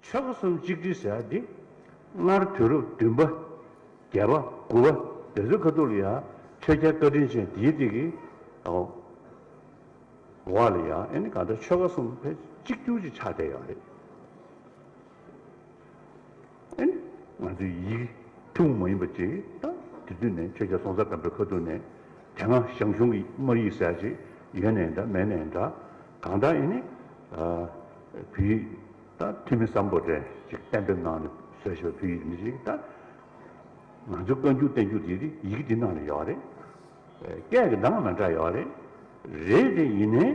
མཆོག་གསུམ་གཅིག་དྲིལ་ཟེར་ཡ་འདི། སྔར་དུས་རབས་བདུན་པ། བརྒྱད་པ། དགུ་བ། དེ་ཚོའི་ཁ་ཐུག་ལ་ཡ། ཆོས་རྒྱལ་བཀའ་དྲིན་ཅན་འདིའི་སྟེང་གི། འགོ་བ་ལ་ཡ། ཨེ་ནི་གང་ལྟར་ཆོལ་ཁ་གསུམ་ཕལ་གཅིག་གྱུར་གྱི་ཆགས་བསྡད་ཡོད་པ་རེད། ཨེ་ནི། ང་ཚོའི་ཡིག་ཐུང་མ་ཡིན་པ་ཅིག་དང། དེ་དུས་ནས་ཆོས་རྒྱལ་སྲོང་བཙན་སྒམ་པོའི་ཁ་ཐུག་ནས། དེ་སྔ་ཞང་ཞུང་གི་དམར་ཡིག་ཟེར་ཡ་ཅིག་ཡོད་ནའི་འདྲ་མེད་ནའི་འདྲ། གང་ལྟར་ཡིན་ནི། བོད་ཡིག་ད་ཐུ་མི་བཟང་པོ་རེད་ཅེས་གཏན་འབེབས་གནང་ནས་བཟོས་ཤོག་བོད་ཡིག་མི་ཞིག་ད། ང་ཚོ་བཀའ་འགྱུར་བསྟན་འགྱུར་དེ་རིགས་ཡིག་འདི་ནང་ལ་ཡོད་རེད། སྐད་ཀྱི་གདངས་མི་འདྲ་ཡོད་རེད། རེད་དེ་ཡིན་ནའི།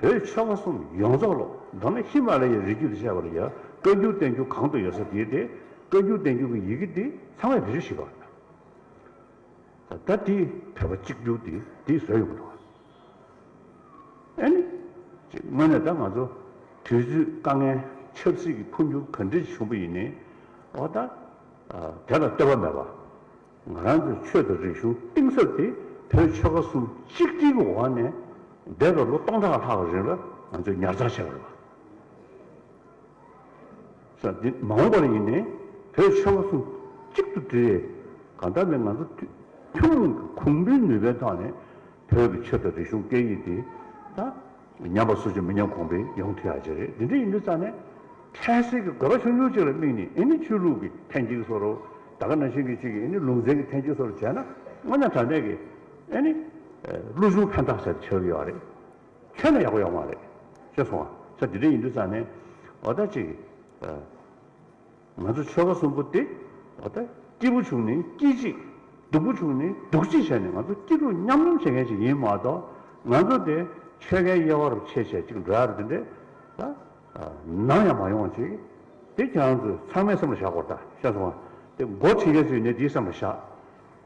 བོད་ཆོལ་ཁ་གསུམ་ཡོངས་རྫོགས་ལོ་མདོ་ན་ཧི་མ་ལ་ཡའི་རི་རྒྱུད་དུ་བཤད་པ་ལ་ཡང་བཀའ་འགྱུར་བསྟན་འགྱུར་གང་དུ་ཡོད་ས་དེའི་དེ་བཀའ་འགྱུར་བསྟན་འགྱུར་གྱི་ཡི་གེ་དེ་ཚང་མས་བེད་སྤྱོད་བྱེད་པ་རེད། ད་ད་དེ་བོད་པ་གཅིག་གྱུར་དེ་དེ་བཟོས་ཡོང་གི་འདུག། ཨེ་ནི། དངོས་གནས་ད་ང་ཚོ་དུས་ཚོད་དཀའ་ངལ་ཆབ་སྲིད་ཀྱི་འཕོ་འགྱུར་ག་འདྲའི་བྱུང་བ་ཡིན་ནའི་འོ་ད། དེ་ལ་ལྟོས་པ་མེད་པར་ང་རང་ཚོའི་ཆོས་དང་རིག་གཞུང་གཏིང་ཟབ་དེ་བོད་ཆོལ་ཁ་གསུམ་གཅིག་སྒྲིལ་གྱི་འོག་ནས་འདས་པའི་ལོ་སྟོང་ཕྲག་ལྷག་གི་རིང་ལ་ང་ཚོས་ཉར་ཚགས་བྱས་པ་རེད། ས་འདི་མ་འོངས་པར་ཡིན་ནས་བོད་ཆེན་པོ་གསུམ་གཅིག་ཏུ་བསྒྲིལ་ཡས་གང་ལྟར་ནས་ང་ཚོ་ཐུན་མོང་གི་གུང་བུའི་ནུས་པའི་ཐོག་ནས་བོད་ཀྱི་ཆོས་དང་རིག་གཞུང་སྐད་ཡིག་འདི་དང་ཉམས་པ་སུ་ཅིས་མི་ཉམས་གོང་འཕེལ་ཡོང་ཐུབ་ཡག་བྱེད་རེད་འདི་འདྲ་ཡིན་དུས་རྩ་ནས་འཕྲལ་སེལ་གྱི་དགོས་པ་ཆུང་ཆུང་གཅིག་ལ་དམིགས་ནས་ཨེ་ནི་ཆོས་ལུགས་ཀྱི་ཐེན་གཅིག་སོར་ད་ག་ན་ཤིང་གི་གཅིག་གིས་ཨེ་ནི་ལུང་ཚན་གྱི་ཐེན་གཅིག་སོར་བྱས་ན་དངོས་གནས་དྲང་བདེན་གྱི་ཨེ་ནི་ལུགས་གཞུང་ཕན་ཐག་ཆད་ཆོད་ཀྱི་ཡོད་རེད། ཁྱོད་ལ་ཡག་པོ་ཡོད་མ་རེད། ཅེས་གསུངས་བ། ཆ་དེ་འདྲ་ཡིན་དུས་ཙང་ནས། འོ་ད་ཅིག། ང་ཚོ་ཆོལ་ཁ་གསུམ་པོ་དེ། འོ་ད། སྐྱིད་པོ་བྱུང་ནས་སྐྱིད་ཅིག། སྡུག་པོ་བྱུང་ནས་སྡུག་ཅིག་བྱས་ནས་ང་ཚོ་སྐྱིད་སྡུག་མཉམ་མཉམ་བྱེད་མཁན་ཞིག་ཡིན་མ་གཏོགས། ང་ཚོ་དེ། ཆོལ་ཁའི་དབྱེ་བ་རུ་ཕྱེས་ཕྱེས་ཅིག་འགྲོ་ཡག་རེད་དེ་འདྲས། ད། ནམ་ཡང་མ་ཡོང་ཅིག། དེ་ཁྱོད་རང་ཚོས་ཚང་མས་སེམས་ལ་བཞག་གོ་ད། ཤེས་སོང་ང། དེ་འགོ་ཁྲིད་མཁན་ཚོས་ནི་དེའི་སེམས་ལ་བཞག།